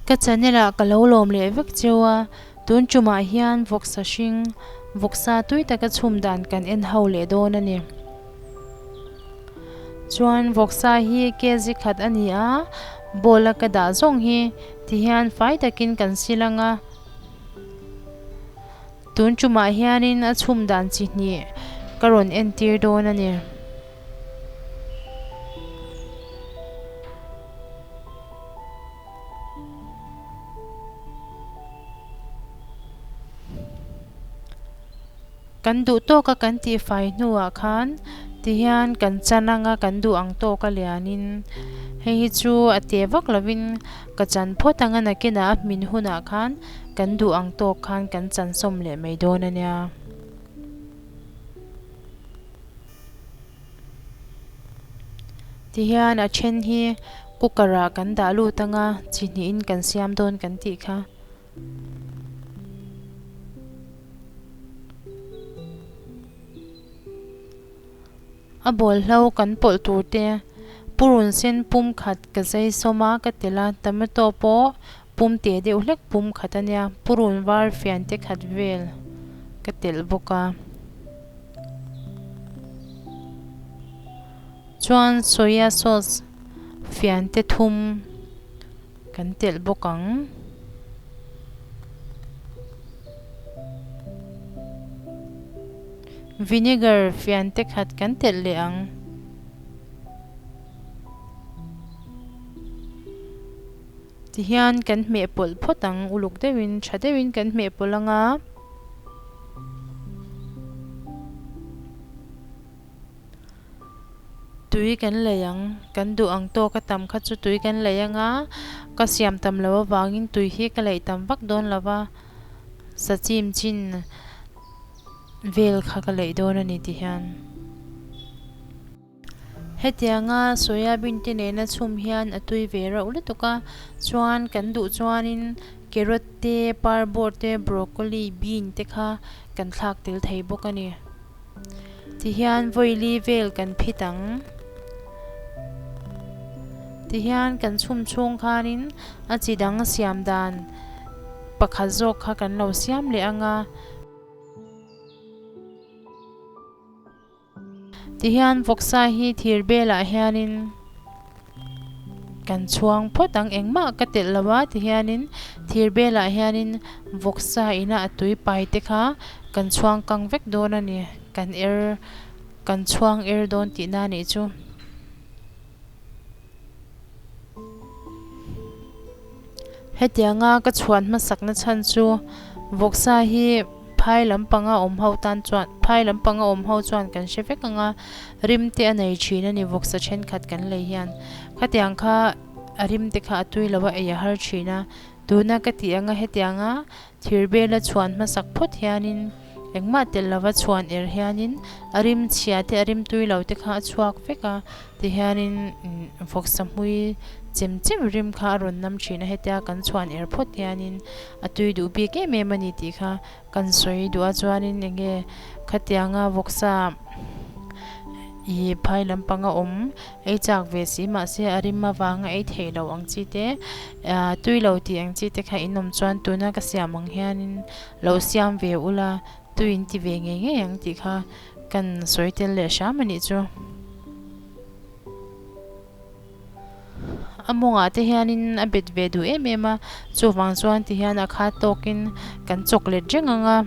Ka channel ah ka lo lawm leh vek cheu a, tun ṭum ah hian vawksa hring, vawksa tui taka chhum dan kan en ho leh dawn a ni. Chuan vawksa hi kg khat a ni a, ball a ka dah zawng hi ti hian fai takin kan sil ang a. Tun tumah hianin a chhum dan chi hnih ka rawn entir dawn a ni. Kan duh tawk a kan tih fai hnu ah khan ti hian kan chan ang a, kan duh ang tawk a lian in. Hei hi chu a teh vak lo in ka chan phawt ang a nakin ah a hmin hun ah khan kan duh ang tawk khan kan chan sawm leh mai dawn a nia. Ti hian a then hi cooker ah kan dah lut ang a, chi hnih in kan siam dawn kan tih kha. A bawlhlo kan pawlh tur te purun sen pum khat ka zai sawm a ka telh a tomato pawh pum teh deuh hlek pum khat a nia purun var fian te khat vel ka telh bawk a chuan soya sauce fian te thum. Kan telh bawk ang. Vinegar fian te khat kan telh leh ang. Tihian kan hmeh pawlh phawt ang, uluk deuhin, tha deuhin kan hmeh pawlh ang a. Tui kan lei ang. Kan duh ang tawk a tam kha chu tui kan lei anga, ka siam tam lo avangin tui hi ka lei tam vak dawn lova, sachim chin vel kha ka lei dawn a ni ti hian. Hetianga soyabin te nena chhum hian a tui ve rauh lutuk a, chuan kan duh chuanin carrot te, parbawr te, broccoli, bean te kha kan thlak tel thei bawk a ni. tihian vawili vel kan phit ang tihian kan chhum chhung khanin a chi dang siam dan pakhat zawk kha kan lo siam leh anga tihian vawksa hi thir belah hianin. Kan chhuang phawt ang engmah ka telh lo a ti hianin thir belah hianin vawksa ina a tui pai te kha kan chhuang kang vek dawn a ni, kan er kan chhuang er dawn tih na nih chu. Hetianga ka chhuan hmasakna chhan chu Vawksa hi phai lampanga awm ho tan chuan, phai lampanga awm ho chuan kan hre vek anga rim te a nei thin a ni Vawksa thenkhat kan lei hian. Khatiang kha a rim te kha a tui lo a, ei a har thin a. Tuna ka tih anga hetianga Thir bela chhuan hmasak phawt hianin engmah telh lova chhuan er hianin a rimchhia te a rimtui lo te kha a chhuak vek a, tihianin fawksahmui chem cheuh rim kha a rawn nam thin a, hetia kan chhuan er phawt hianin a tui duh bik em em a ni tih kha kan sawi duh a, chuanin eng nge khatianga vawksa i phai lampanga awm. Ei chak ve si mahse a rim avanga ei theih loh ang chi te, tui lo tih ang chi te kha in awm chuan tuna ka siam ang hianin lo siam ve ula, tui in ti ve ngei ngei ang tih kha kan sawi tel leh hram a nih chu. A mawngah te hianin a bet ve duh em em a, chuvang chuan ti hian a khat tawkin kan chawk let reng ang a.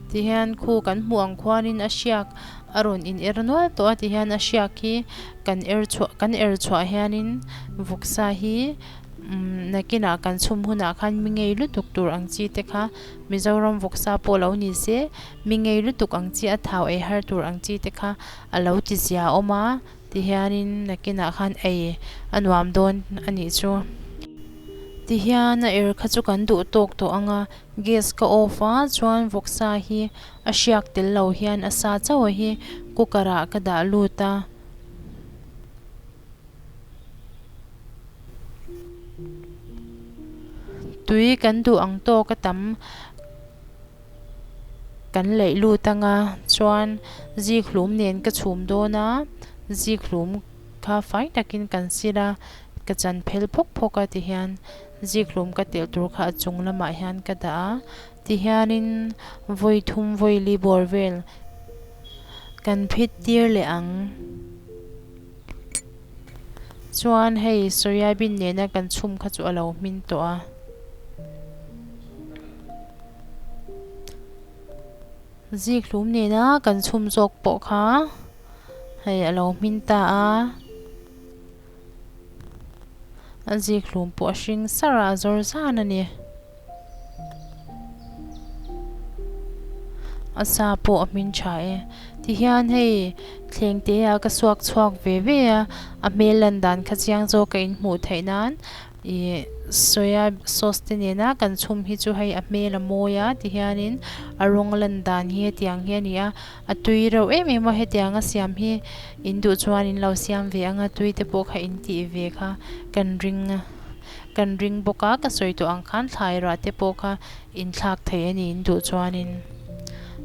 Ti hian khu kan hmuh ang khuanin a hriak a rawn in er nual tawh a ti hian a hriak hi kan er chhuah kan er chhuah hianin vuksa hi nakin ah kan chhum hunah khan mi ngei lutuk tur ang chi te kha Mizoram vuksa pawh lo ni se mi ngei lutuk ang chi a thau ei har tur ang chi te kha a lo ti zia awm a. Tihianin nakinah khan ei a nuam dawn a nih chu. Tihian a er kha chu kan duh tawk tawh anga gas ka off a chuan vawk sa hi a hriak tel lo hian a sa chauh a hi cooker ah ka dah lut a. Tui kan duh ang tawk a tam Kan laih lut anga chuan zikhlum nen ka chhum dawn a, zikhlum kha fai takin kan sir a, ka chan phel phawk phawk a ti hian zikhlum ka telh tur kha a chung lamah hian ka dah a ti hianin vawi thum vawi li bawr vel kan phit tir leh ang. Chuan hei soyabean nena kan chhum kha chu a lo hmin tawh a. Zikhlum nena kan chhum zawk pawh kha hei a lo hmin ta a. A zikhlum pawh a hring sar a, a zawr zan a ni. A sa pawh a hmin tha e. Tihian hei thleng te ah ka suak chhuak ve ve a, a hmel lan dan kha chiang zawk a inhmuh theih nan ih soya sauce te nena kan chhum hi chu hei a hmel a mawi a tihian in a rawng lan dan hi hetiang hi a ni a, a tui reuh em em a hetiang a siam hi in duh chuan in lo siam ve ang a, tui te pawh kha in tih ve kha kan ring a. Kan ring bawk a, ka sawi tawh ang khan thlai rah te pawh kha inthlak thei a nih in duh chuanin.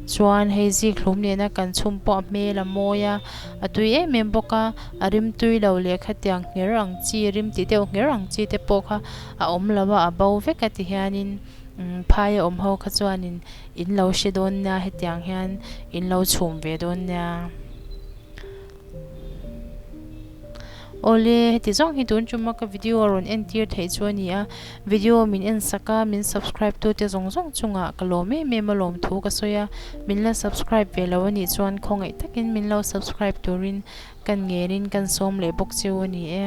Chuan hei zikhlum nena kan chhum pawh a hmel a mawi a, a tui em em bawk a, a rim tui lo leh khatiang hner ang chi, rim tih deuh hner ang chi te pawh kha a awm lo a, a bo vek a tihianin phai a awm ho kha chuanin in lo hre dawn nia hetiang hian in lo chhum ve dawn nia. Awle, heti zawng hi tun ṭum a, ka video a rawn entir theih chu a ni a, video min en sak a, min subscribe tute zawng zawng chungah ka lawm em em a lawm thu ka sawi a, min la subscribe ve lo a nih chuan khawngaih takin min lo subscribe turin kan ngelin kan sawm leh bawk chu a ni e.